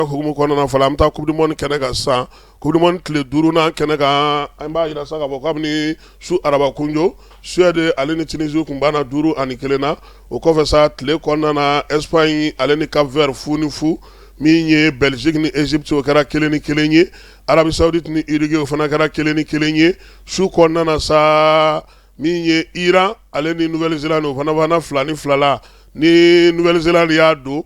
hukumu kɔnɔna fɔlɔ an bɛ taa coupe du monde kɛnɛ kan sisan coupe du monde tile duurunan kɛnɛ kan an b'a jira sa k'a fɔ kabini su arabakunjo Suède ale ni Tunisie tun banna duuru ani kelen na o kɔfɛ sa tile kɔnɔna Espagne ale ni Cap Vert fu ni fu min ye Belgique ni Egypte o kɛra kelen ni kelen ye Arabie Saoudite ni Uruguay o fana kɛra kelen ni kelen ye su kɔnɔna sa min ye Iran ale ni Nouvelle-Zélande o fana banna fila ni fila la ni Nouvelle-Zélande de y'a don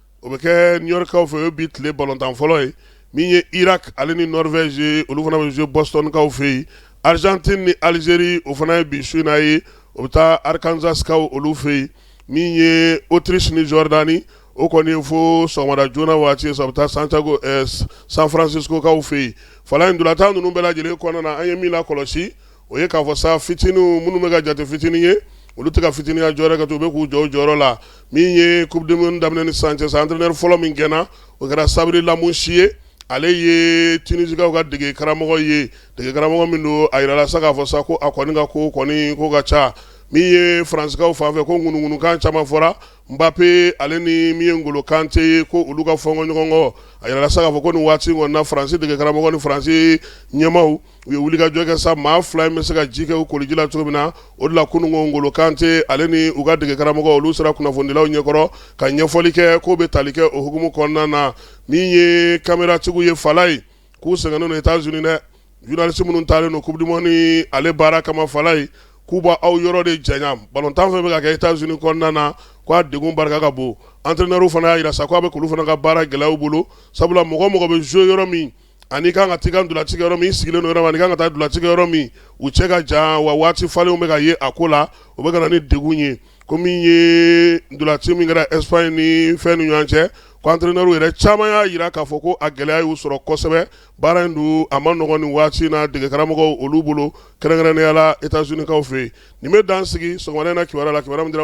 o bɛ kɛ New York kaw fɛ o ye bi tile balontan fɔlɔ ye min ye Irak ale ni Norvège ye olu fana bɛ jouer Boston kaw fɛ yen Argentine ni Algérie o fana ye bi su in na ye o bɛ taa Arkansas kaw olu fɛ yen min ye Autriche ni Jordanie o kɔni ye fo sɔgɔmada joona waati ye sa o bɛ taa Santiago ɛɛ San Francisco kaw fɛ yen Falaye ntolatan ninnu bɛɛ lajɛlen kɔnɔna na an ye min lakɔlɔsi o ye k'a fɔ sa fitininw minnu bɛ ka jate fitinin ye olu tɛ ka fitininya jɔyɔrɔ kɛ ten, u bɛ k'u jɔ u jɔyɔrɔ la min ye coupe du monde daminɛ ni sisan cɛ sa entraineur fɔlɔ min gɛnna o kɛra Sabri Lamouchi ye ale ye Tunisikaw ka dege karamɔgɔ ye dege karamɔgɔ min don a jirala sa k'a fɔ sa ko a kɔni ka ko kɔni ko ka ca min ye Fransikaw fanfɛ ko ŋunuŋunukan caman fɔra Mbappe ale ni min ye Ngolo Kante ye ko olu ka fɔnkɔ ɲɔgɔn kɔ a jirala sa k'a fɔ ko nin waati kɔni na Fransi dege karamɔgɔ ni Fransi ɲɛmaaw u ye wulikajɔ kɛ sa maa fila in bɛ se ka ji kɛ u koliji la cogo min na o de la kunun Ngolo Kante ale ni u ka degekaramɔgɔ olu sera kunnafonidilaw ɲɛkɔrɔ ka ɲɛfɔli kɛ k'o bɛ tali kɛ o hukumu kɔnɔna na min ye kameratigiw ye Falaye k'u sɛgɛnnen don États-Unis dɛ journaliste minnu taalen don coupe du monde in ale baara kama Falaye k'u bɔ aw yɔrɔ de jan balontan fɛ bɛ kɛ États-Unis kɔnɔna na k'a degun barika ka bon entraineur fana y'a jira sa k'a bɛ k'olu fana ka baara gɛlɛya u bolo sabula mɔgɔ mɔgɔ bɛ jouer yɔrɔ min ani i kan ka t'i ka ntolaci kɛ yɔrɔ min i sigilen yɔrɔ ani kan ka taa ntolaci kɛ yɔrɔ min u cɛ ka jan wa waati falenw bɛ ka ye a ko la o bɛ ka na ni degun ye ko min ye ntolaci min kɛra Espagne ni fɛn ni ɲɔgɔn cɛ ko entraineur yɛrɛ caman y'a jira k'a fɔ ko a gɛlɛya y'u sɔrɔ kosɛbɛ baara in dun a ma nɔgɔn nin waati in na degekaramɔgɔw olu bolo kɛrɛnkɛrɛnnenya la États-Unis kaw fɛ yen nin bɛ dan sigi sɔgɔmada in na kibaru la kibaru min dira an ma